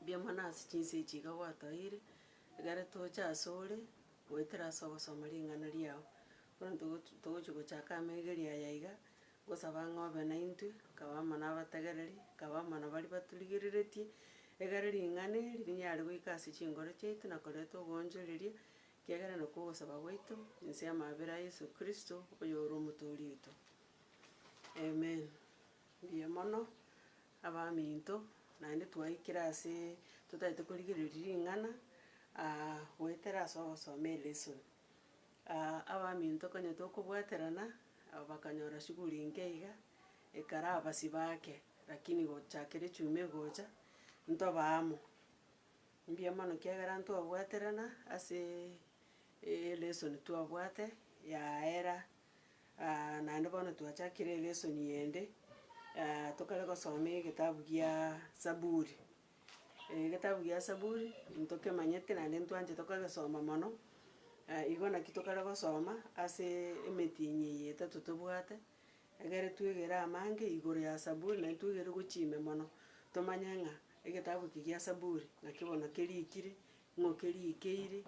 Mbuya mono ase chinsa echi iga gwatoeire, ekero tocha asore goetera ase ogosoma ring'ana riao. Bono togo togochia gochaka amaigeria aya iga, ngosaba ng'a obe naintwe, nkaba amo nabategereri, nkaba amo nabaria baturigereretie, egere ring'ana eri rinyare goika ase chinkoro chiaito na koreta oboonchoreria, ekiagera nakwo ogosaba gwaito, inse y'amabera a Yeso Kristo, oyore Omotoori oito. Amen. Mbuya mono. Abaminto, naende twaikire ase totaete korigereria ring'ana, goetera ase ogosoma elesson. Abaminto konya tokobwaterana, bakanyora shughuli inke iga, ekero abasi baake, lakini gochakera echuma egocha, ntoba amo. Mbuya mono ekiagera ntwabwaterana ase elesson twabwate yaera. Naende bono twachakire lesson yende, tokare gosoma egetabu gia Saburi. Egetabu gia Saburi ntokemanyete naende ntwanchete kogesoma mono, igo naki tokare gosoma ase emetinyi eye etato tobwate, egere twegere amange igoro ya Saburi naende twegere gochia ime mono, tomanye ng'a egetabu eke gia Saburi naki bono kerikire, Ng'a okerigeire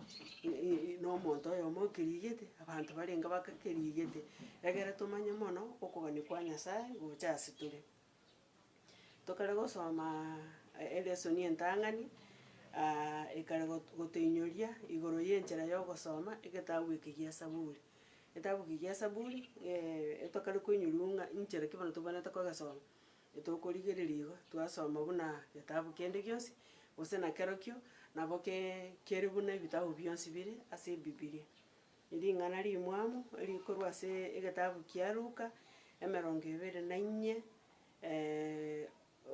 nomonto oyomo okerigete, abanto barenge bakakerigete, egere tomanye mono okogania kwa Nyasae gocha ase tore. Tokare gosoma elesoni entang'ani, ekare got- gotoinyoria igoro y'enchera yogosoma egetabu eke gia Saburi. Egetabu eke gia Saburi, tokare koinyoriwa ng'a inchera ki bono tobwenerete kogesoma. Etokorigereria igo, twasoma buna getabu kende gionsi, gose nakerokio nabo kere buna ebitabu bionsi bire ase Ebibilia. Ring'ana rimwamo eri korwa ase egetabu kia Luka, emerongo ebere na inye,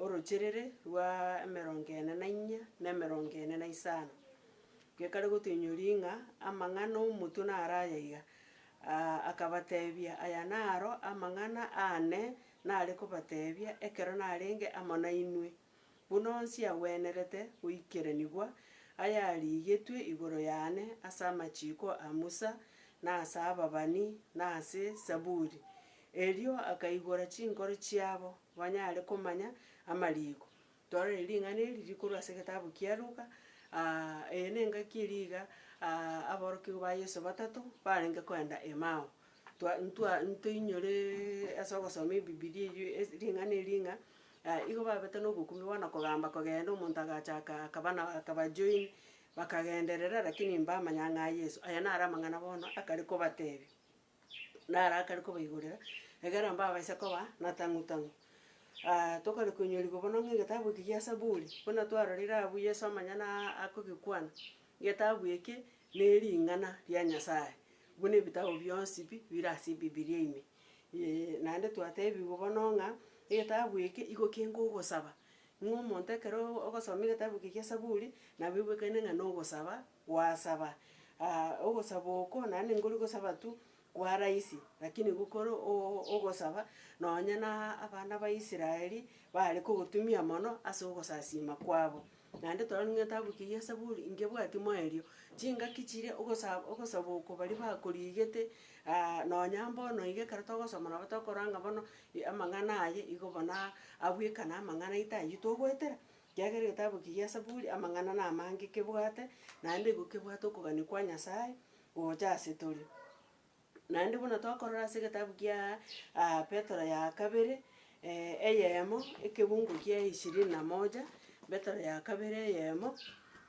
orocherere rwa emerongo ene na inye na emerongo ene na isano, gekare gotoinyoria ng'a amang'ana omotwe naro aya iga, akabatebia, Aya naro amang'ana aane. nare kobateebia ekero narenge amo nainwe, buna onsi agwenerete goikeranigwa ayarigetwe igoro yane ase amachiiko a Musa, na ase ababani, na ase Saburi. Erio akaigora chinkoro chiabo, banyare komanya amariiko, Tororei ring'ana eri riri korwa ase egetabu kia Luka. Eye nengaki eria iga aborokigwa ba Yeso batato barenge koenda Emau. Twa ntwa ntoinyore ase ogosoma Ebibilia eyio ase ring'ana eria ng'a igo babete na obokumbe bono kogamba kogenda omonto agachaka akaba na akaba join, bakagenderera lakini mbamanya ng'a Yeso. Aya naro amang'ana bono akare kobatebia. narakare kobaigorera, egere nabo babaise koba natang'u tang'u. tokare koinyorigwa bono ng'a egetabu eke gia Saburi, buna twarorire abwo Yeso amanyene aa akogekwana, getabu eke na ering'ana ria Nyasaye, buna ebitabu bionsi pi bire ase ebibilia ime. naende twatebigwa bono ng'a, egetabu eke igo kenge ogosaba, ng'a omonto ekero ogosoma egetabu eke gia Saburi, nabo oigwekane ng'a na ogosaba Gwasaba, aa, ogosaba oko naende nkori gosaba tu kwa rahisi, rakini gokore oo ogosaba, nonye na abana ba Israeli bare kogotumia mono ase ogosasiima kwabo. Naende twarorire ng'etabu kei gia Saburi, ingebwati moerio, chingaki chiria ogosa ogosaba oko baria bakorigete, aa nonya mbono iga ekero togosoma nabo tokorora ng'a bono amang'ana aye igo bonaa abwekana amang'ana aito ayio togoetera. Kiagera egetabu eki gia Saburi amang'ana namange kebwate, naende igo kebwate okogania kwa Nyasae gocha ase tore. Naende buna tokorora ase egetabu kia Petero ya kabere, eyemo ekegungo kia ishirini na moja, Petero ya kabere eyemo,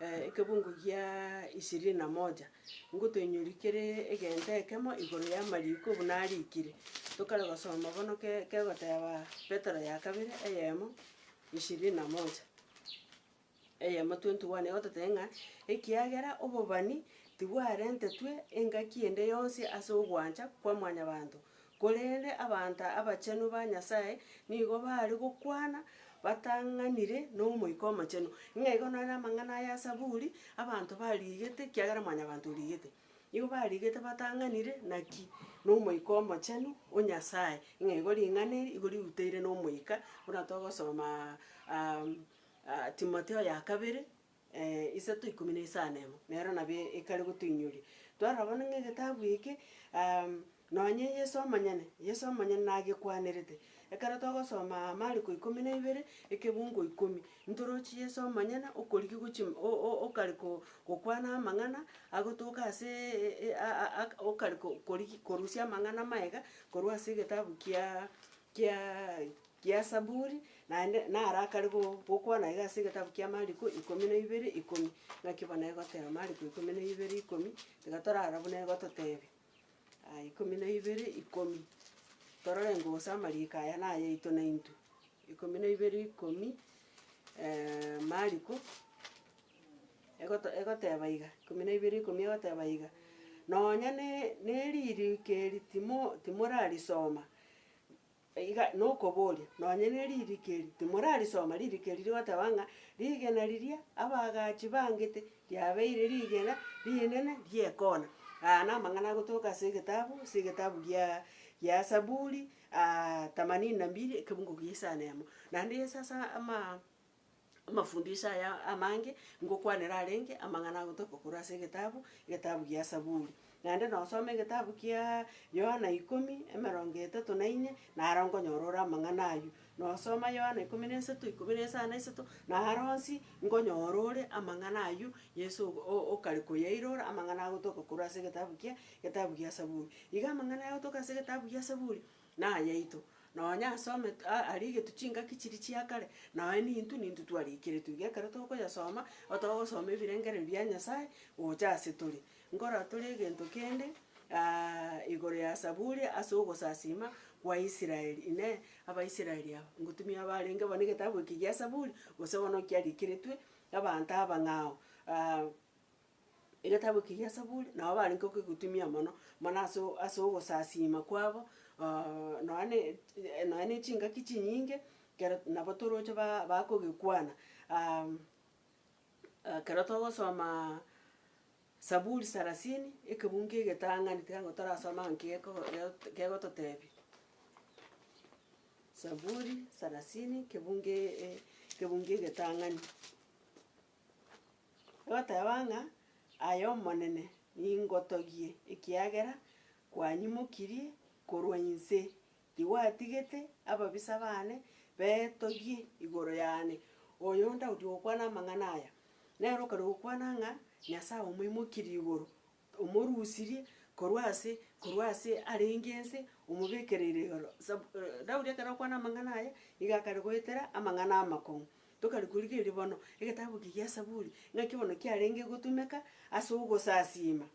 ekegungo gia ishirini na moja, ngotoinyori kere egento ekemo igoro y'amariko buna arikire. Tokare gosoma bono ke- kegoteba Petero ya kabere eyemo. ishirini na moja. Eyemo twentuwane igo totebe ng'a ekiagera obobani tibwarentetwe engaki ende yonsi ase ogwancha kwa mwanyabanto, korende abanto abachenu ba Nyasae nigo baare gokwana batang'anire n'Omoika Omochenu. Ng'a igo nere amang'ana aya as'Aburi abanto barigete ekiagera mwanyabanto origete. Nigo barigete batang'anire naki n'Omoika Omochenu o Nyasae, ng'a igo ring'ana eri igo riruteire n'omoika, buna togosoma Timotheo ya kabere isato ikomi na isano emo, nero nabo ekare gotoinyoria. Twarora bono ng'a egetabu eke. Nonye Yeso amanyene, Yeso amanyene nagekwanerete. Ekero togosoma aa Mariko ikomi na ibere, ekebungo ikomi, ntoroche Yeso amanyene okoriki gochi o- o- okare ko- gokwana amang'ana agotoka ase e- a- a- ak okare ko- koriki korusia amang'ana amaye iga, korwa ase egetabu kiaa kiaa kia Saburi, naende naro akare go- gokwana iga ase egetabu kia Mariko ikomi na ibere ikomi. Naki bono egoteba Mariko ikomi na ibere ikomi, tiga torara buna egototebia. Aya ikomi na ibere ikomi, torore ng'o gose amariiko aya nayaito naintwe. Ikomi na ibere ikomi, Mariko egoto egoteba iga, ikomi na ibere ikomi egoteba iga, Nonya ne- ne- neririko eri timo timorarisoma. Iga nokoboria, nonye ne ririko eri timorarisoma, ririko eri rigoteba ng'a rigena riria abaagachi bangete riabeire rigena rinene ri'ekoona. Aya namang'ana agotoka ase egetabu, ase egetabu gia gia Saburi themanini na mbili ekebungo gia isano emo. Naende Yeso ase amaa. Amafundisho aya amange ngokwanera arenge amang'ana agotoka korwa ase egetabu, egetabu gia Saburi. Naende nosome egetabu kia Yohana ikomi, emerongo etato na ine, naro nkonyora ore amang'ana aywo. Nosoma Yohana ikomi na isato, ikomi na isano na isato, naro onsi nkonyora ore amang'ana aywo Yeso ogo o- o- okare koyairora, amang'ana agotoka korwa ase egetabu kia, egetabu gia Saburi. Iga amang'ana aya agotoka ase egetabu gia Saburi, nayaito, nonya ase omet a arigetu chingaki chiria chia kare, nonya nintu nintu twariikeretwe iga ekero tokoyasoma, otogosoma ebirengererio bia Nyasaye gocha ase tore. Nkoratore egento kende igoro ya Zaburi ase ogosasiima gwa Israel, inee, Abaisraeli aba, ngotumia abarenge bo negetabu eke gia Zaburi, gose bono kiariikeretwe abanto abang'ao. Egetabu eke gia Saburi, nabo barenge okogotumia mono, mana ase o- ase ogosasiima kwabo, nonya ne nonya ne chingaki chinyinge, ekero nabo toroche ba- bakogekwana. ekero togosomaa Saburi sarasini, ekebungo kia egetang'ani, tiga nabo torasome ang'o kegoko gegoto kegototebia. Saburi sarasini ekebungo e- e ekebungo egetang'ani. Egoteba ng'a, Aye Omonene, ningotogie, ekiagera kwanyimokirie korwa inse, tigwatigete ababisa baane betogie igoro yane. Oyo Daudi ogokwana amang'ana aya, nere okarua gokwana ng'a Nyasae omoimokirie igoro. Omorusirie korwa ase, korwa ase arenge ense, omobekereire igoro. Sab. Daudi ekero akwana amang'ana aya, nigo akare goetera amang'ana amakong'u. Tokare korigereria bono, egetabu eke gia Saburi, ng'aki bono kiarenge gotumeka ase ogosasiima.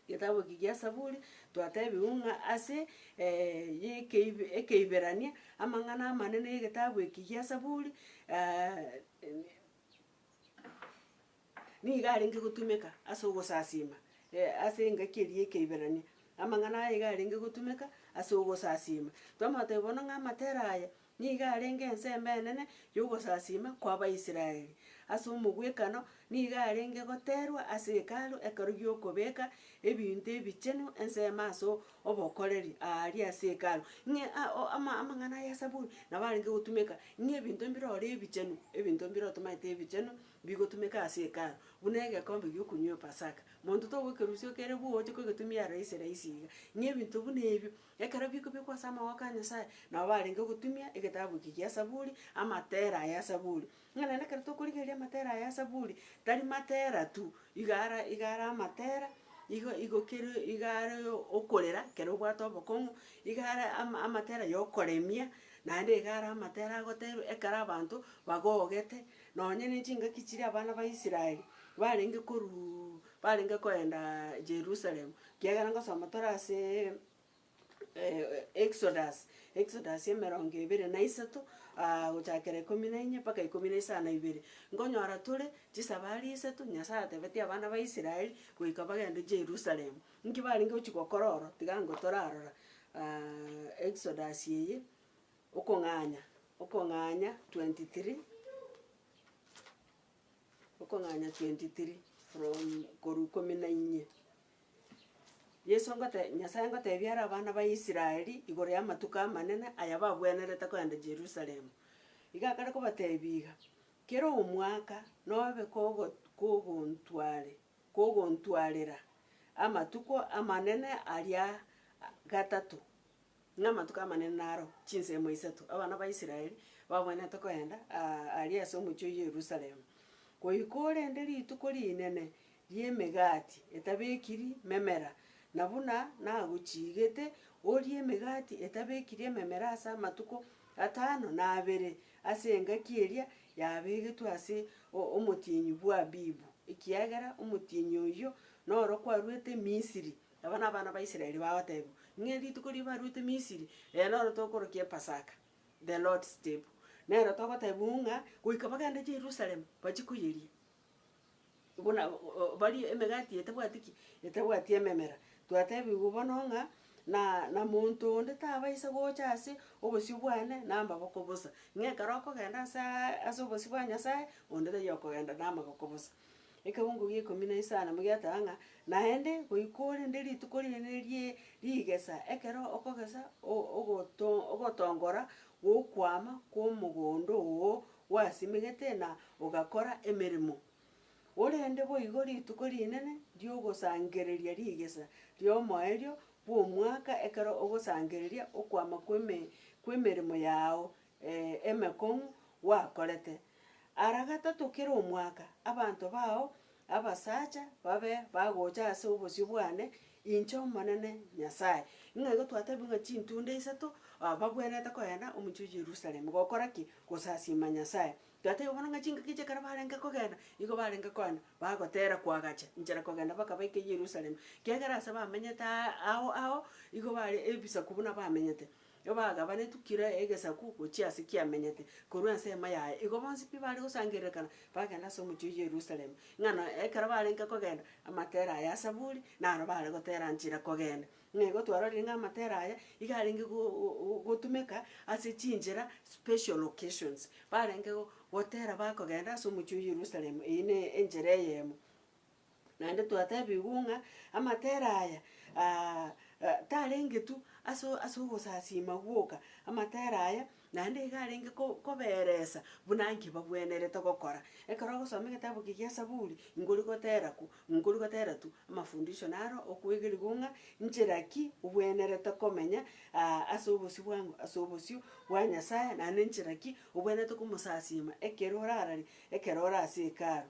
Egetabu eke gia Saburi, twatebiwu ng'a ase yekeibe Ekeiberania, amang'ana amanene y'egetabu eke gia Saburi, nigo arenge gotumeka ase ogosasiima, e, ase engaki eria y'Ekeibirania, amang'ana aya iga arenge gotumeka ase ogosasiima. Twamotebia bono ng'a amatera aya nigo arenge ensemo enene y'ogosasiima kw'Abaisraeli. Ase omogwekano, nigo arenge goterwa ase Hekalu ekero gi'okobeka ebinto ebichenu ensemo ase obokoreri aaria ase Hekalu, ng'e a o ama amang'ana ya esaburi nabo arenge gotumeka ng'a ebinto mbirore ebichenu, ebinto mbire otomaete ebichenu, Bigotumeka ase Hekalu buna egekombe gi'okunywa Epasaka. Monto togokerusia okere bwogocha kogetumia raisi raisi iga. Ng'a ebinto buna ebio ekero bikobekwa ase amaboko a Nyasae, nao barenge gotumia egetabu eke gia Zaburi, amatera aya a Zaburi. Ng'a naende ekero tokorigereria amatera aya a Zaburi, tari matera tu, iga ara iga ara amatera, igo igo kere iga are okorera ekero obwate obokong'u, iga are ama amatera ya okoremia, naende iga are amatera agotebi ekero abanto bagogete, Nonya nechingaki chiria abana ba Israeli barenge korua barenge koenda Jerusalem, kiagera ngosoma tore ase Exodus, Exodus emerongo ebere na isato gochakera ikomi na inye mpaka ikomi na isano na ibere, nkonyora tore chisabari isato Nyasaye atebetie abana ba Israeli goika bagende Jerusalem. Nki barenge gochia gokora oro? Tiga nkotorarora Exodus eye. Okong'anya, Okong'anya 23 Okong'anya 23 from korwa ikomi na inye. Yeso ngote Nyasaye ngotebia are abana ba Israeli igoro y'amatuko amanene aya babwenerete kogenda Jerusalemu. Iga akare kobatebia iga, Kera omwaka nobe kogo kogontware kogontwarera amatuko amanene aria gatato, Ng'a amatuko amanene naro chinsemo isato abana ba Israeli babwenerete koenda aa aria ase omochie o Yerusalemu, goika orende rituko rinene ri'Emegati etabekiri Memera, na buna nagochiigete, orie Emegati etabekiri Ememera ase amatuko atano na abere ase engaki eria yabegetwe ase o- omotienyi bw'Abibu, ekiagera omotienyi oyio noro kwarwete Misiri. Aba nabana ba Israeli bagotebiwa, ng'a rituko riria baruete Misiri, rero noro tokorokia Epasaka, the Lord's table. Nero togotebiwa ng'a goika bagende Jerusalem bachie koyeria, buna barie emegati etabwati ki? Etabwati ememera. Twatebigwa bono ng'a na na monto onde tabaisa gocha ase obosio bwane na amaboko bosa, ng'a ekero okogenda asaa ase obosio bwa Nyasaye, onde taiyo okogenda na amaboko bosa. Ekeungu g'ikomi na isano mogiateba ng'a naende goika ore nde rituko riane rie rigesa, ekero okogesa o- ogoto ogotongora gw'okwama kw'omogondo oo gwasimegete na ogakora emeremo. Ore nde boigo rituko rinene ri'ogosangereria rigesa ri'omoerio bw'omwaka ekero ogosangereria okwama kw'eme kw'emeremo yao emekong'u gwakorete. Ara gatato kera omwaka abanto bao abasacha babe bagocha ase obosio bwane inche Omonene Nyasae. Ng'a igo twatebiwe ng'a chintunda isato bagwenerete kogenda omochie o Yerusalemu gokora ki? Gosasiima Nyasae. Twatebiwe bono ng'a chingaki echi ekero barenge kogenda, igo barenge kogenda bagotera koagacha inchera kogenda mpaka baike Yerusalemu. Kiagera ase bamenyete aa ao ao igo bare ebisaku buna bamenyete. Igo bagabanetwe kera egesaku gochia ase kiamenyete korwa ensemo yaye. Igo bonsi pi baare gosangererekana bagenda ase omochie o Yerusalemu, ng'a na ekero barenge kogenda amatera aya a Saburi naro baare gotera nchera kogenda. Ng'a igo twarorire ng'a amatera aya iga arenge gotumeka ase chinchera special occasions. Barenge gotera bakogenda ase omochie o Yerusalemu, eyio ne enchera eyemo. Naende twateebigwe ng'a amatere aya tarenge tu ase ase ogosasiima gwoka, amatere aya naende iga arenge ko koberesa buna nki bagwenerete gokora. Ekero ogosoma egetabu eke gia Saburi, nkori gotera ku, nkori gotera tu amafundisho naro okwegerigwa ng'a nchera ki obwenerete komenya ase obosio bwa ng'o, ase obosio bwa Nyasaye, naende nchera ki obwenerete komosasiima ekero orararia, ekero ore ase Hekalu.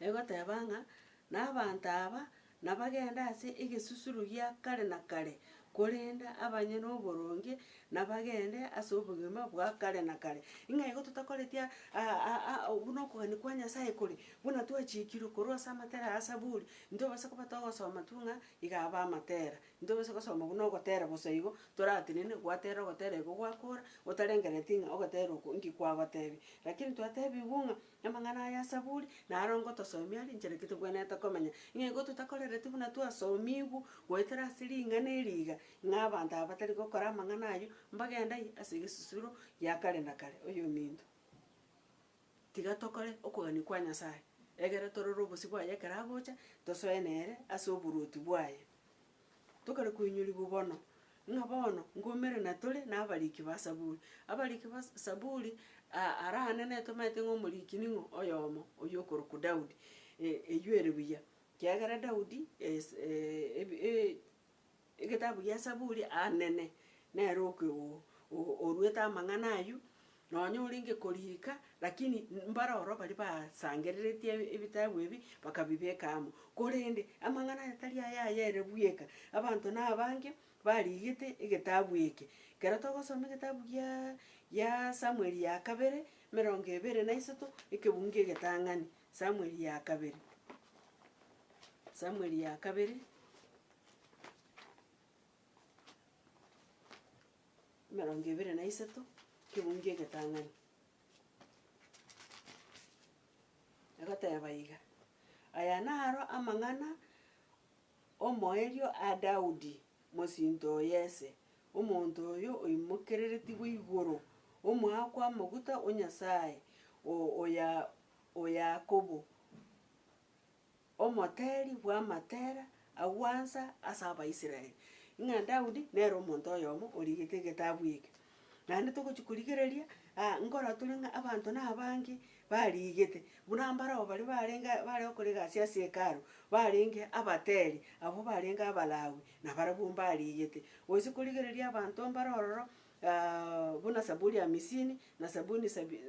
egoteba ng'a nabaanto aba nabagende ase egesusuro gia kare na kare, korende abanyene oboronge nabagende ase obogima bwa kare na kare. Ng'a igo totakoreti buna okogania kwa Nyasae kore, buna twachikirwe korwa ase amatera ya Zaburi, ntobasa koba togosoma tu ng'a iga abe amatera, ntobasa gosoma buna ogotera bosa igo, toratenene gwatera ogotera igo gwakora, otarengereti ng'a ogotera oko inki kwagotebia. Lakini twatebiwu ng'a. Amang'ana aya asaburi naro ngotosomi arincheretie togwenerete komenya, ng'a igo totakorereti buna twasomigwu goetera ase ring'ana eri iga, ng'a abanto aba batari gokora amang'ana ayio mbagendai ase egesusuro gia kare na kare. Oyominto, tiga tokore okogania kwa Nyasae, egere torore obosio bwaye ekero agocha, tosoe nere ase oboruoti bwaye. Tokare koinyorigwa bono, ng'a bono nkoumere na tore nabariki ba Saburi. Abariki ba Saburi ara ane netomete ng'a omoriki ning'o oyomo, oyio okorokwa Daudi. Eyio ere buya, kiagera Daudi egetabu gia Saburi anene nere oke orwete amang'ana ayio, Nonya orenge koriika, lakini mbare ororo baria basangereretie ebitabu ebi bakabibeka amo. Korende amang'ana aya tari aya ayere bweka, abanto nabange bariigete egetabu eke. Ekero togosoma egetabu gia gia Samueli ya kabere, emerongo ebere na isato, ekebungo egetang'ani, Samueli ya kabere, Samueli ya kabere. Emerongo ebere na isato, Ekegungu Egetang'ani. Egoteba iga, Aya naro amang'ana omoerio a Daudi, mosinto o Yese, omonto oyo oimokereretigwe igoro, omoa kw'amaguta o Nyasae o oya o Yakobo, omoteeri bw'amatera a gwansa ase Abaisraeli, ng'a Daudi nere omonto oyomo origete egetabu eke. Naende togochia korigereria, aa nkoratore ng'a abanto nabange barigete, buna mbarabwo baria barenge aa bare gokora egasi ase Hekalu, barenge abateeri, abwo barenge Abalawi, nabarabwo mbarigete. Gose korigereria abanto mbare ororo. buna Saburi hamisini, na Sabuni sabi,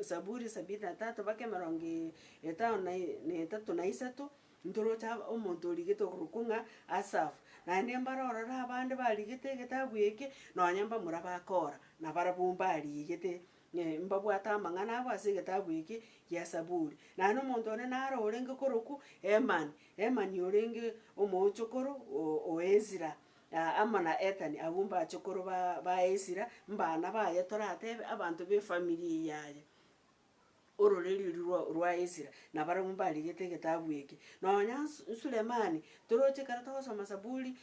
Saburi sabini na tatu, baka emerongo etano na na etato na isato, ntoroche omonto origetwe okorokwa ng'a Asafu. Naende mbare ororo abande barigete egetabu eke, nonye mbamura ba Kora, nabarabwo mbarigete, mbabwate amang'ana abo ase egetabu eke gia Saburi. Naende omonto one naro orenge korokwa Hemani, Hemani orenge omoochokoro o Ezira. Na amo na Ethani agwo mbachokoro ba ba Esira, mbana baye, toratebe abanto b'efamiri eye yaya, ororeriori rwa rwa Esira, nabarabwo mbarigete egetabu eke. Nonya Su Sulemani, toroche ekero togosoma Saburi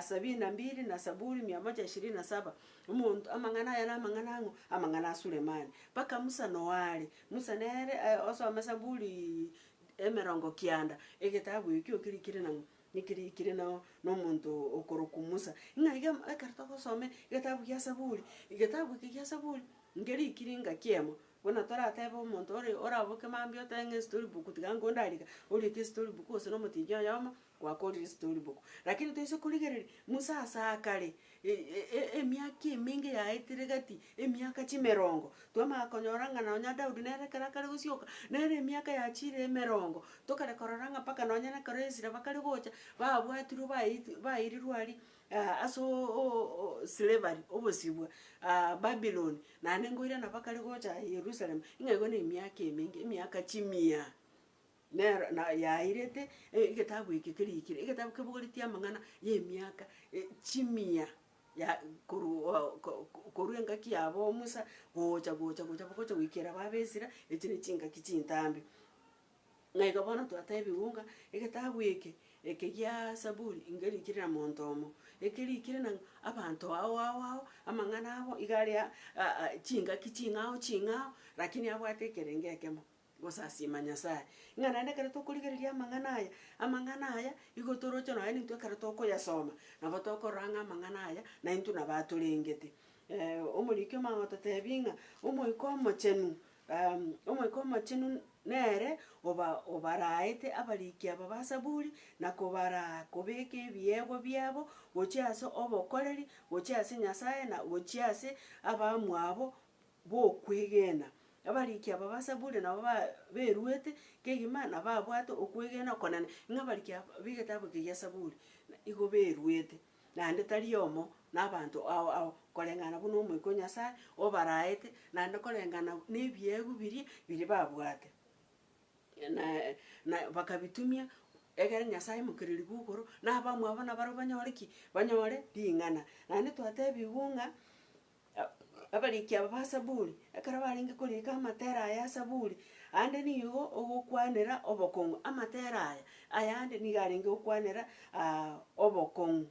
sabini na mbili na Saburi mia moja ishirini na saba, omonto amang'ana aye na amang'ana ang'o? Amang'ana a Sulemani. Mpaka Musa noare, Musa nere aye osome Saburi emerongo kianda, egetabu ekio kirikire nang'o? Niki riikire nao nomonto okorokwa Musa? Ng'a iga ekero togosoma egetabu gia Saburi, egetabu eke gia Saburi nkeriikire ng'a kiemo. Buna toratebe omonto ore oraboke mambia otebe ng'a estory book tiga nko ndariga, oriete estory book gose na omotinyi oyomo gwakorire estory book. Lakini toise korigereria Musa ase akare Emiaka emenge yaetire gati, emiaka chimerongo. Twamanya konyora ng'a nonya Daudi nere ekero akare gosioka, nere emiaka yachiire emerongo. Tokare korora ng'a mpaka nonya nekero Ezira bakare gocha, babwatirwe baeiti bairirwe aria ase o slavery, obosibwa Babilon, naende ngoira nabakare gocha Yerusalem, ing'ego na emiaka emenge, emiaka chimia. Nero na yairete e- egetabu eke kerikire, egetabu kebogoretie amang'ana y'emiaka e- chimia ya korwa o- ko- ko- korwa engaki yabo Musa, gocha gocha gocha bogocha goikera aba Abaisira, echi ne chingaki chintambe. Na igo bono twatebiwu ng'a egetabu eke, eke gia Saburi, ngerikire na monto omo, ekerikire nang'o abanto ao ao ao, amang'ana abo iga are a- a- a chingaki ching'ao ching'ao, rakini abwate ekerengo ekemo. Gosasiima Nyasae, ng'a naende ekero tokorigereria amang'ana aya, amang'ana aya igo toroche nonya nintwe ekero tokoyasoma, nabo tokorora ng'a amang'ana aya naintwe nabo atorengete. Omoriki omo agototebi ng'a Omoika Omochenu Omoika Omochenu nere oba obaraete abariki aba ba Zaburi, na kobaraa kobeka ebiegwa biabo gochia ase obokoreri, gochia ase Nyasae, na gochia ase abamwabo bw'okwegena. Abarikia aba ba Zaburi nabo ba beruete kegima na babwate okwegena okonene, ng'a abarikia aba b'egetabu eke gia Zaburi igo beruete, naende tari oyomo nabaanto ao ao, koreng'ana buna Omoika o Nyasae obaraete, naende koreng'ana nebiegwa biria biria babwate. Na na bakabitumia egere Nyasae Mokereri bw'okoro, na abamwabo nabarabwo banyore ki? Banyore ring'ana. Naende twatebigwe ng'a Abariki aba ba Zaburi, ekero barenge koriika amatera aya a Zaburi, aande nigo ogokwanera obokong'u. Amatera aya ayande nigo arenge gokwanera obokong'u,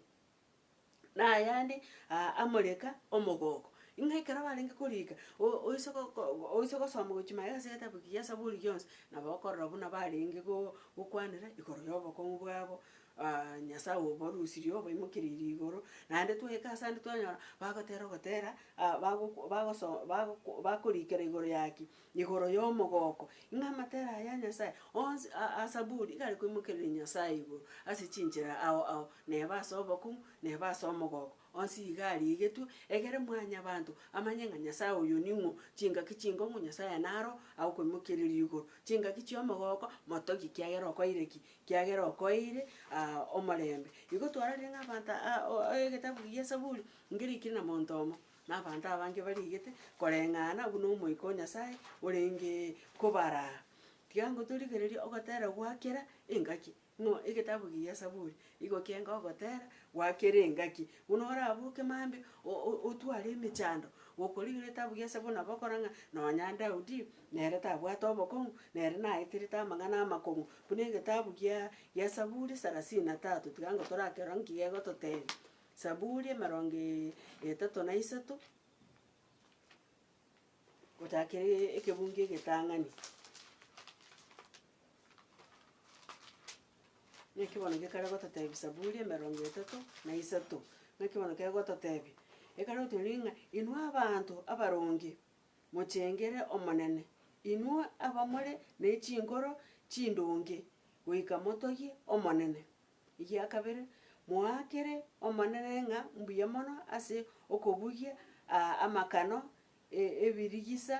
na ayande amoreka omogooko. Ng'a ekero barenge koriika, o- oise go- go- oise gosoma gochi maega ase egetabu ekiya kia Zaburi gionsi, nabo okorora buna barenge go- gokwanera igoro yobokong'u bwabo. Aa, Nyasae oborusirie oboimokereire igoro, naende twaika ase ande twanyora bagotera ogotera, aa bagokwa bagoso bagokwa bakorikera igoro ya ki? Igoro y'omogoko. Ng'a amatera aya a Nyasae onsi a- a asaburi iga arekoimokereria Nyasae igoro ase chinchera ao ao, neba ase obokong'u, neba ase omogoko. Onsi iga arigetwe, egere Mwanyabaanto amanye ng'a Nyasae oyo ning'o, chingaki chingong'u Nyasae naro agokwemokereria igoro, chingaki chi'omogooko motogie kiagera okoeire ki? Kiagera okoeire aa omorembe. Igo twarorire ng'a abanto aa o egetabu gi'Esaburi ngeriikire na monto omo, na abanto abange bariigete koreng'ana buna Omoika o Nyasae orenge kobaraa. Tiga ngotorigererie ogotera gwa kera engaki. Ng'o egetabu kia Saburi igo kenga ogotera gwakere engaki, buna oraboke mambia otware emechando? Gokorigia egetabu kia Saburi nabo okora ng'a nonya Daudi nere tabwate obokong'u, nere naeterete amang'ana amakong'u, buna egetabu kia kia Saburi sarasini na tatu, tiga ango torakerore nki gegototebia. Saburi emerongo etato na isato. Gochaka kere ekebungo egetang'ani. Naki bono gekare gototebia Zaburi emerongo etato na isato, naki bono kegototebia, Ekare gotoria ng'a inwe abanto abaronge, mochengere Omonene, inwe abamore ne chinkoro chindonge, goika motogie Omonene. Egia kabere, moakere Omonene ng'a mbuya mono ase okobugia aa amakano e ebirigisa,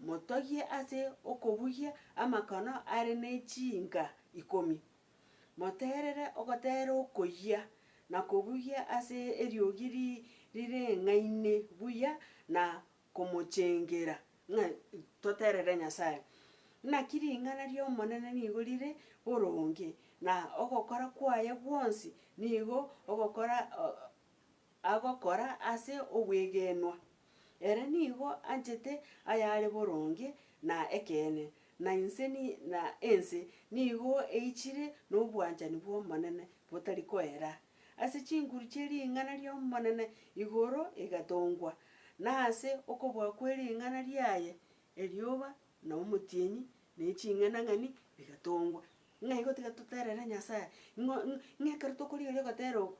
motogie ase okobugia amakano are ne chinka ikomi. Moterere ogoteera okoyia, na kobugia ase eriogi ri rireng'aine buya na komochengera ng'a toterere Nyasae. Naki ring'ana ri'Omonene nigo rire boronge, na ogokora kwaye gwonsi nigo ogokora agokora ase obwegenwa. Ere nigo anchete ayare boronge na ekeene, na inse na ense nigo eichire nobwanchani bw'Omonene botari koera. ase chinguru chie ring'ana ri'Omonene igoro egatongwa, na ase okobua kwe ring'ana riaye erioba na omotienyi na eching'enang'eni bigatongwa. Ng'a igo tiga toterere Nyasae, ng'o ng'a ekero tokorigereria ogotera oko,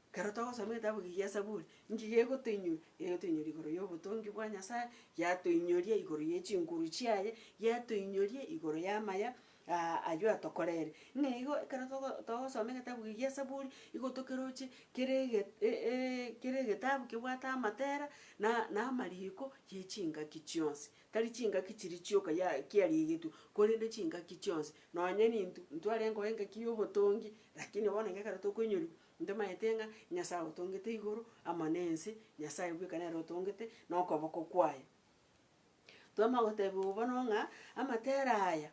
ekero togosoma egetabu eke gia Saburi, inki gegotoinyora? Gegotoinyora igoro y'obotongi bwa Nyasae, yatoinyoria igoro ye chinguru chiaye, yatoinyoria igoro y'amaya Aa, ayio atokorere. Ng'a igo ekero togo togosoma egetabu eke gi'Esaburi, igo tokeroche kere ege e e kere egetabu kebwate amatera na na amariko ye chingaki chionsi. Tari chingaki chiria chioka ya kiarigetwe, korende chingaki chionsi. Nonye ninto ntware nkoba engaki y'obotongi, rakini bono iga ekero tokoinyoriwa, ntomanyete ng'a Nyasaye otongete igoro amo na ense, Nyasaye bweka nere otongete na okoboko kwaye. Twama gotebigwa bono ng'a amatera aya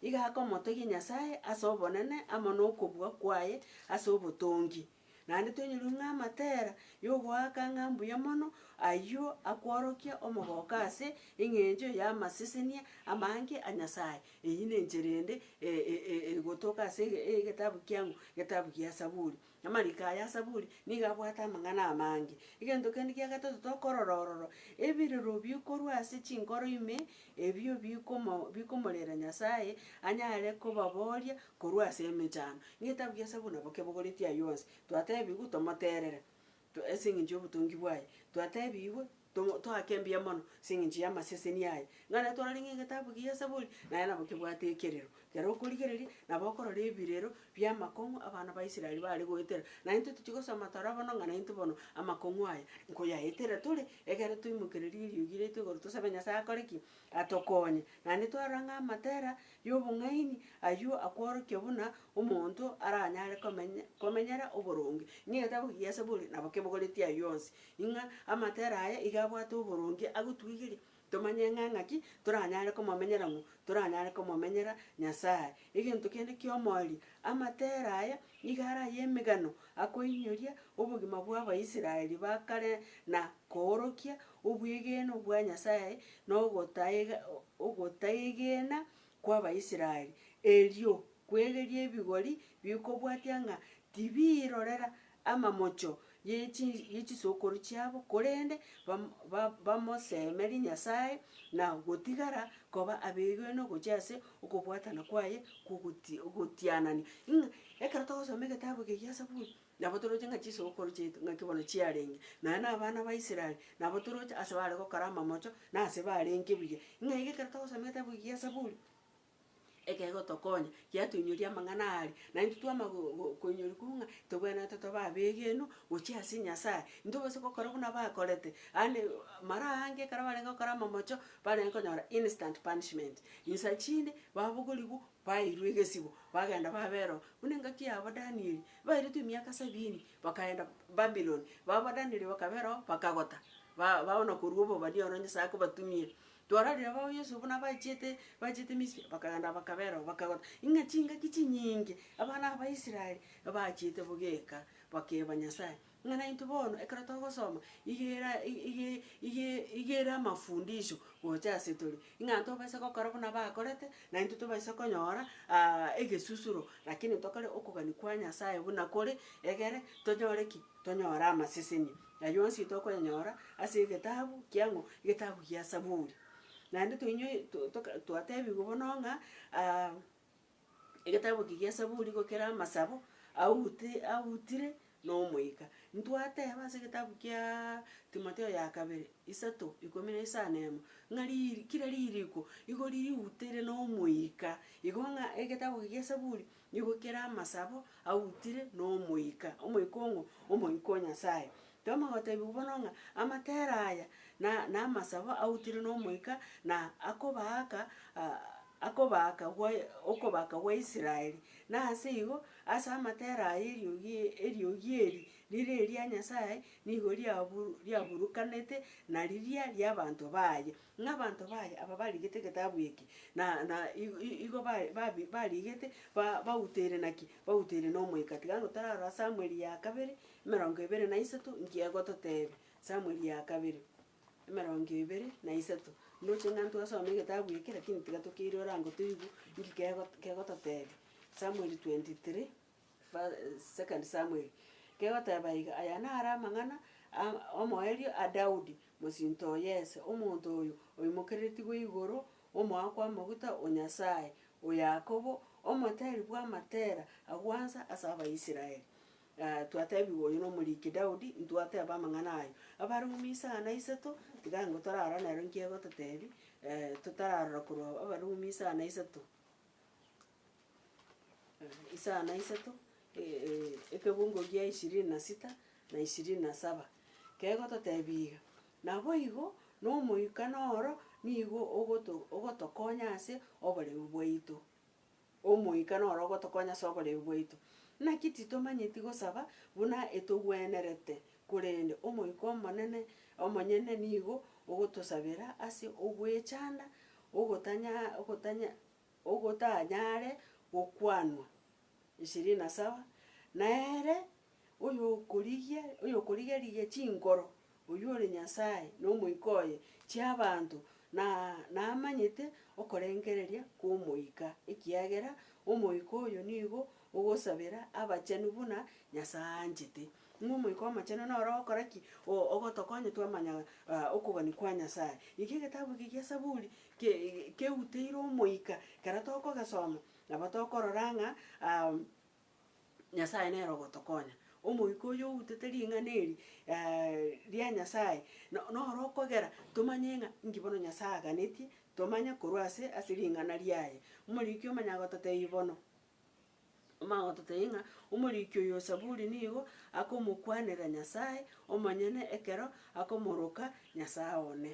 iga akomotogia Nyasae ase obonene amo nokobua kwaye ase obotongi. Naende tonyurwe ng'a amatera yogoaka ng'a mbuya mono ayio akworokia omogoko ase eng'encho y'amasesenia amange a Nyasae. Eyio nenchera ende e- e- e- egotoka ase ege- egetabu kiang'u, getabu gia Saburi. Amariko aya asaburi nigo abwate amang'ana amange. Egento kende kia gatato tokorora ororo, ebirero bikorwa ase chinkoro ime ebio bikomo bikomorera Nyasae anyare kobaboria korwa ase emechando. Ng'etabia kia Saburi nabo kebogoretie ayio onsi. Twatebigwe tomoterere, to ase eng'encho y'obotongi bwaye, twatebigwe Tomo, toake mbuya mono as'engencho y'amaseseni aye, ng'a naye twararenge egetabu gia Saburi, naye nabo kebwate ekerero. Ekero okorigereria, nabo okorora ebirero bi'amakong'u abana ba Israeli bare goetera, naye intwe tochia gosoma tore bono ng'a naintwe bono amakong'u aya nkoyaetera tore, ekero twaimokereria eriogi riaito igoro tosabe Nyasae akore ki? Atokonye. Naende twarora ng'a amatera y'obong'aini ayio akworokia buna omonto aranyare komenya, komenyera oboronge. Ng'a egetabu gia Saburi nabo kebogoretie ayio onsi, Ing'a amatera aye iga abwate oboronge agotuigeria tomanye ng'a ng'aki toranyare komomenyera ng'u toranyare komomenyera Nyasae. Egento kende ki'omoerio, amatera aye nigo are ay'emegano akoinyoria obogima bw'Abaisraeli ba kare na koorokia obwegenwa bwa Nyasae na ogotaega ogotaegena kw'Abaisraeli, erio kwegerie ebigori bikobwatia ng'a tibirorera amamocho ye chisokoro chiabo, korende bamosemerie Nyasae na gotigara koba abegenwa ogochia ase okobwatana kwaye kw'ogotianania. Ng'a ekero togosoma egetabu eke gia Saburi, nabo toroche ng'a chisokoro chiaito ng'aki bono chiarenge, nonya na abana ba Israel, nabo toroche ase bare gokora amamocho, na ase barenge buya. Ng'a iga ekero togosoma egetabu eke gia Saburi. Ekegotokonya, giatoinyoria amang'ana aria, na intwe twama go- go- koinyoria korwa ng'a tobwenerete tobe abegenwa gochia ase Nyasaye, intwe gose gokora buna bakorete, yaani mara aange ekero barenge gokora amamocho, barenge konyora instant punishment. Insa chinde, babogorigwa, baeirwa egesibo, bagenda baberwa. Buna engaki yabo Danieli, bairetwe emiaka sabini, bakaenda Babilon, babo Danieli bakaberwao bakagota, ba baona korwa obobani oro Nyasaye akobatumia. Twarorire abao Yeso buna bachete, bachete Misiri, bakagenda bakabera oo, bakagora, Ing'a chingaki chinyinge abana Abaisraeli bachete bogeka, bakeeba Nyasae, ng'a naintwe bono ekero togosoma, igera i- ige- ige- igera amafundisho gocha ase tore, ing'a tobase gokora buna bakorete, naintwe tobaise konyora egesusuro, rakini tokore okogania kwa Nyasae buna kore, egere tonyore ki? Tonyore amaseseni. Na yonsi tokoyanyora ase egetabu kiang'o? Egetabu gia Saburi. Naende toinywe to- toka twatebigwe bono ng'a egetabu eke gia Saburi igo kere amasabo aute autire na omoika. Ntwateba ase egetabu kiaa Timotheo ya kabere, isato, ikomi na isano emo, ng'a riri kera ririko igo riuteire na omoika. Igo ng'a egetabu eke gia Saburi, Nigo kera amasabo autire nomoika, omoika ong'o? Omoika o Nyasaye. Toma gotebiwa bono ng'a amatera aya na namasabo autire nomoika na akobaaka akobaaka gwa okobaaka gwa Israeli. Na ase igo, ase amatera aya eriogi eriogi eri rire eria Nyasaye nigo riabu riaburukanete na riria riabanto baye. Ng'a abanto baye aba barigete egetabu eke, na, na igo, igo ba, ba, barigete, ba, bauteire naki? Bauteire n'Omoika. Tiga ang'e torarora Samweli ya kabere, emerongo ebere na isato, nki egototebia. Samweli ya kabere, emerongo ebere na isato. Ndoche ng'a ntwasome egetabu eke, lakini tiga tokeirore ango toigwe nki kego kegototebia. Samweli 23. Fa. 2 Samueli, kegoteba iga, Aya naro amang'ana a omoerio a Daudi, mosinto o Yese, omonto oyo oimokereretigwe igoro, omoaka kw'amaguta o Nyasae o Yakobo, omotari bw'amatera a gwansa ase Abaisraeli. Twatebigwa oyo nomoriki Daudi, ntwateba amang'ana aye. Abarumi isaha na isato, tiga ango torarora nero nki egototebi, totararora korwa Abarumi isaha na isato. Isaa na isato, ekegungo gia ishirini na sita na ishirini na saba, kegototebia iga, Naboigo n'Omoikano oro nigo ogoto ogotokonya ase oboreu bwaito. Omoikano oro ogotokonya ase oboreu bwaito. Naki titomanyeti gosaba buna etogwenerete, korende Omoika Omonene omonyene nigo ogotosabera ase ogwechanda, ogotanya ogotanya. ogotanyare gokwanwa, ishirini na saba, na ere oyokorigia oyokorigerigia chinkoro, oyio ore Nyasaye, na omoika oye, chi'abanto, na namanyete okorengereria kw'omoika, ekiagera omoika oyo nigo ogosabera abachenu buna Nyasae anchete. Ng'a Omoika Omochenu noro ogokora ki? Oo, ogotokonya twamanya okobani kwa Nyasae. Naki egetabu eke gia Saburi ke, keuteire Omoika. Ekero tokogesoma, nabo tokorora ng'a Nyasae nere ogotokonya. Omoika oyio outete ring'ana eri ria Nyasae, no, noro okogera tomanye ng'a inki bono Nyasae aganetie tomanye korwa ase, ase ring'ana riaye. Omoriki omonyene agototebi bono, Amagoto taiyo ng'a omoriki oyo o Zaburi nigo akomokwanera Nyasae omonyene ekero akomoroka Nyasae one,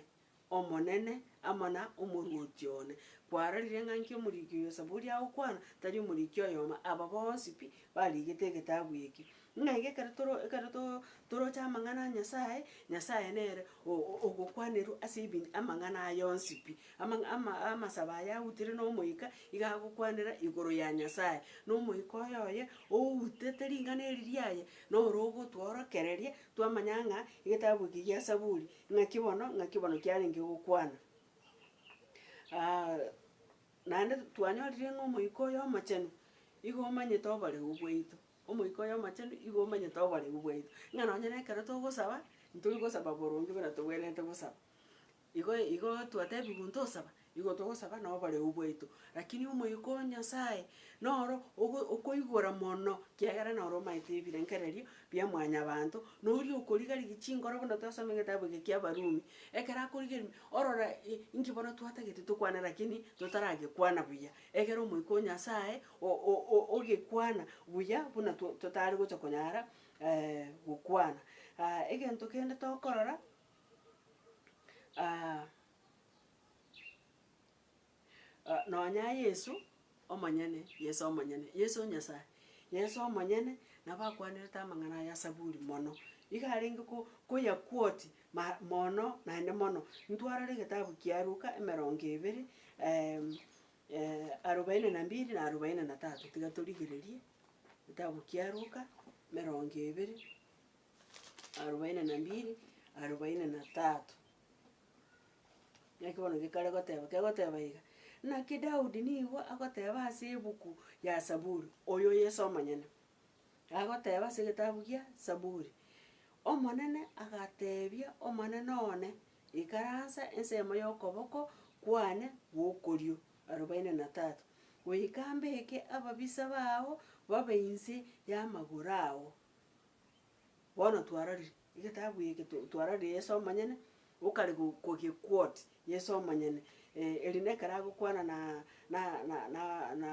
Omonene, amo na Omoruoti one. Kwarorire ng'a nki omoriki oyo o Zaburi agokwana? Tari omoriki oyomo, aba bonsi pi barigete egetabu eke. Ng'a iga ekero toro ekero to toroche amang'ana a Nyasaye, Nyasaye nere o- o- ogokwanerwa ase ebinto amang'ana aya onsi pi. Amang'a ama amasabo aya autire na omoika, iga agokwanera igoro ya Nyasaye. Na omoika oye oye outete ring'ana eri riaye, noro ogotworokereria twamanya ng'a egetabu eke gia Saburi, ng'aki bono ng'aki bono kiarenge gokwana. naende twanyorire ng'a omoika oyo omochenu, igo omanyete oboreu bwaito. Omoika oye Omochenu igo omanyete oborebu bwaito, ng'a nonye nekero togosaba, ntori gosaba boronge buna togwenerete gosaba. Igo igo twatebigwe ntosaba, igo togosaba na oborebu bwaito. Rakini Omoika o Nyasae noro ogo okoigora mono, kiagera noro omanyete ebirengererio bia mwanyabanto, na oria okoriga rigia chinkoro buna twasomire getabua eke kia Abarumi. Ekero akorigerimi, orora i- inki bono twatagete tokwane rakini totaragekwana buya, egere Omoika o Nyasae ogekwana buya buna totare gocha konyara gokwana. Egento kende tokorora, nonya Yeso omonyene, Yeso omonyene, Yeso Nyasaye, Yeso omonyene nabo akwanerete amang'ana aya asaburi mono. Igo arenge ko- koya quote ma- mono naende mono. Ntwarore egetabu kia Luka emerongo ebere Arobaini na mbiri na arobaini na tatu, tiga torigererie, Getabu kia Luka, emerongo ebere, arobaini na mbiri, arobaini na tatu. Naki bono gekare goteba, kegoteba iga, Naki Daudi nigo agoteba ase ebuku ya Saburi, oyo Yeso omonyene, agoteba ase egetabu gia Saburi, Omonene agateebia Omonene one, Ikaransa ensemo y'okoboko kwane gw'okorio, arobaine na Tata, goika mbeke ababisa bao babe inse y'amagoro ao. Bono twarorire egetabu eke, to- twarorire Yeso omonyene okare go- kogequot, Yeso omonyene, eri nekero agokwana na na na na na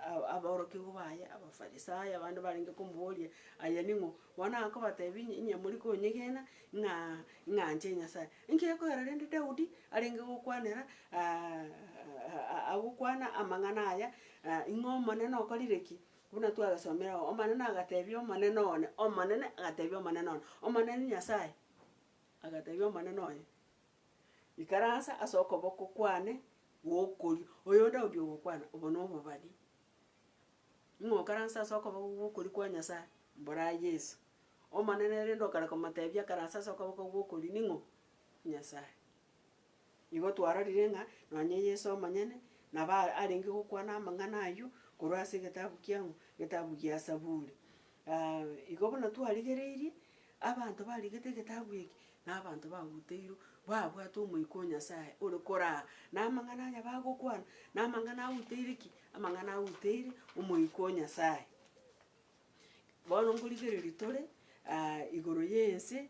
a- aborokigwa baye Abafarisayo abande barenge komoboria, aye ning'o? Bono akobatebia, Inye mori konyegena ng'a ing'anche Nyasae. Inki gekoera rende Daudi arenge gokwanera agokwana amang'ana aya, ing'o Omonene okorire ki? Buna twagesomire oo, Omonene agatebia Omonene one, Omonene agatebia Omonene one, Omonene Nyasae agatebia Omonene oye, Ikaransa ase okoboko kwane gw'okorio. Oyo Daudi ogokwana, obo nobobani. Ng'okaranse ase okoboko gw'okorio kwa Nyasae? Mbora Yeso, Omonene, erinde okare komotebia akaranse ase okoboko gw'okorio ning'o? Nyasae. Igo twarorire ng'a nonye Yeso omonyene nabo arenge gokwana amang'ana ayio korwa ase egetabu kiang'o? Getabu gia Saburi. Igo buna twarigereirie, abanto barigete egetabu eke nabanto bagoteirwe, babwate Omoika o Nyasae ore koraa, na amang'ana aye bagokwana, na amang'ana agoteire ki? Amang'ana agoteire Omoika o Nyasae. Bono nkorigereria tore igoro y'ense,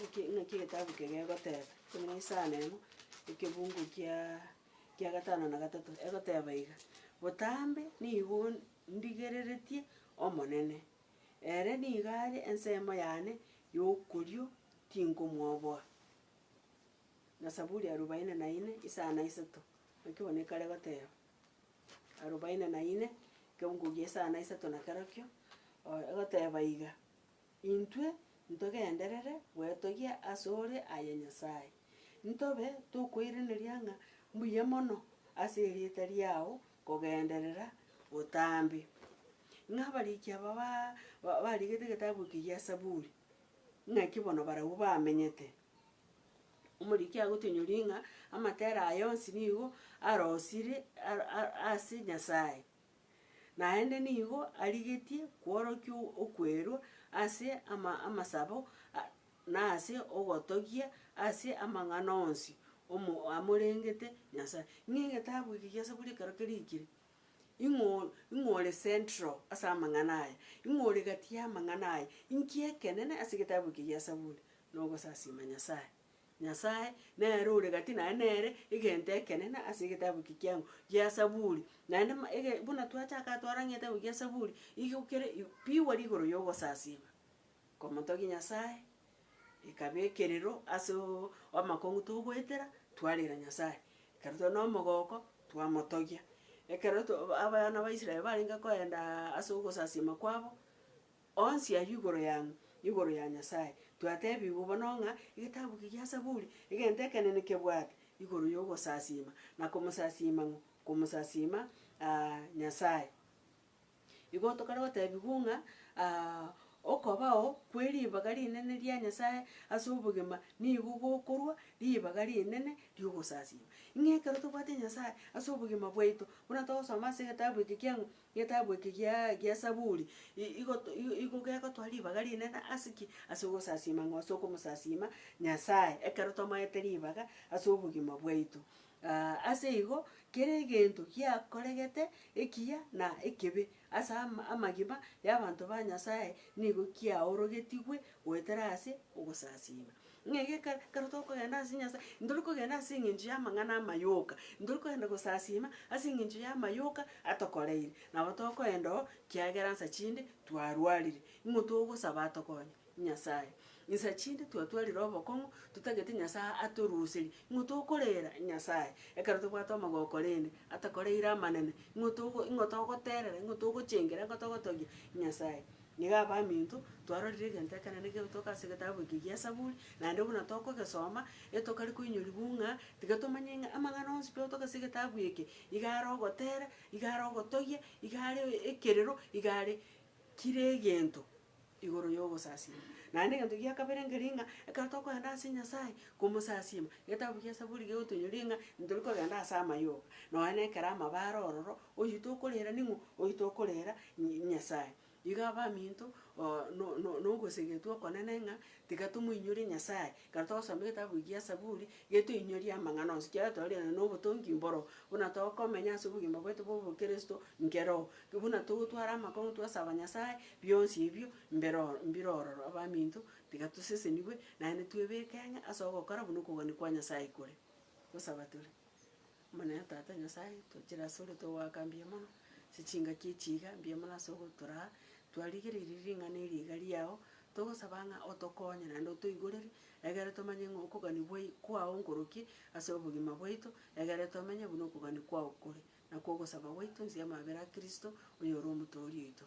Naki naki egetabu eke gegoteba, buna ase isano emo, ekebungo kiaa kia gatano na gatato, egoteba iga, Botambe nigo ndigereretie Omonene, ere nigo are ensemo yane yokorio tinkomwoboa. Na saburi arubaini na ine, isano na isato, naki bono ekare goteba, arubaini na ine, ekebungo kia isano na isato na kerokio, oe egoteba iga. Intwe ntogenderere gwetogia asore, aye Nyasae, ntobe tokoiraneria ng'a mbuya mono ase erieta riao kogenderera botambe. Ng'a abariki aba barigete egetabu eke gia Zaburi, ng'aki bono barabwo bamenyete. Omoriki agotunyori ng'a amatera aye onsi nigo arosiri ase Nyasae. Naende nigo arigetie kworokia okwerwa ase ama amasabo a na ase ogotogia ase amang'ana onsi omo amorengete Nyasaye. Ng'a egetabu eke gia Saburi ekero kerikire, ing'o ing'ore central ase amang'ana aya, ing'ore egati y'amang'ana aya, inki ekenene ase egetabu eke gia Saburi, nogosasima Nyasaye. Nyasae, nere ore gati naye nere egento ekenene ase egetabu eke kiang'u gia Zaburi, naende ma ege buna twachaka twarang'a egetabu gia Zaburi, igo kere i pigwa rigoro ya ogosasiima komotogia Nyasae, ekaba ekerero ase oo amakong'u togoetera, twarera Nyasae. Ekero tore na omogoko, twamotogia, ekero to abana ba Israel barenge koendaa ase ogosasiima kwabo. Onsi ayio igoro yang'u, igoro ya Nyasae. Twatebigwe bono ng'a egetabu eke gia Saburi, egento ekenene kebwate igoro y'ogosasiima, na komosasiima ng'u? Komosasiima Nyasae. Igo tokare gotebigwa ng'a okobao kwe ribaga rinene ria Nyasae ase obogima nigo gokorwa ribaga rinene ri'ogosasiima. Ng'a ekero tobwate Nyasae ase obogima bwaito, buna togosoma ase egetabu eke kiang'u, Getabu eke gia gia Saburi i- igo to- i- igo gegotoa ribaga rinene ase ki? Ase ogosasiima ng'a ase okomosasiima Nyasae, ekero tomoete ribaga ase obogima bwaito. ase igo, kera egento giakoregete ekiya na ekebe ase ama amagima y'abanto ba Nyasae nigo kiaorogetigwe goetera ase ogosasiima. Ng'a egeka ekero tokogenda ase Nyasae, ntori kogenda ase engencho y'amang'ana amayoka, ntori kogenda gosasiima ase engencho y'amayoka atokoreire, nabo tokoenda oo kiagera nsa chinde twarwarire. Ing'o togosaba atokonye? Nyasae. Insa chinde twatwarire obokong'u, totagete Nyasae atoruserie. Ing'o tokorera? Nyasae. Ekero tobwate omogoko korende atakoreire amanene, ing'o togo ing'o togoterera, ing'o togochengera, ing'o togotogia? Nyasae. Nigo abaminto, twarorire egento ekenene kegetoka ase egetabu eke gi'Esaburi, naende buna tokogesoma, getokare koinyorigwa ng'a tiga tomanye ng'a amang'ana onsi pi otoka ase egetabu eke, iga are ogotera, iga are ogotogia, iga are ekerero, iga are kera egento igoro y'ogosasiima. Naende egento gia kabere nkeria ng'a, ekero tokogenda ase Nyasae komosasiima, egetabu gi'Esaburi gegotoinyoria ng'a ntori kogenda ase amayoga, nonya na ekero amabare ororo, Oyio tokorera ning'o? Oyio tokorera Ny Nyasaye. Igo abaminto oo no no nogosegetwa okonene ng'a tiga tomoinyorie Nyasaye, ekero togosoma egetabu egia Saburi, getoinyoria amang'ana onsi, ekiagera twarorire nobotongi mboro, buna tokomenya ase obogima bwaito bwa obokristo nkere oo, buna togotwara amakong'u twasaba Nyasaye, bionsi ebio mbere oro mbire ororo. Abaminto tiga tosesenigwe, naende twebeke ng'a ase ogokora buna okogania kwa Nyasaye kore. Gosaba tore. Omonene Tata Nyasae, tochire asore togoaka mbuya mono ase chingaki echi iga mbuya mono ase ogotoraa twarigereirie ring'ana eri iga riao, togosaba ng'a otokonye naende otoigorerie, egere tomanye ng'a okogania bwai kwao nkoroki ase obogima bwaito, egere tomenye buna okogania kwao kore, na kw'ogosaba gwaito inse y'amabera a Kristo, oyore Omotoori oito.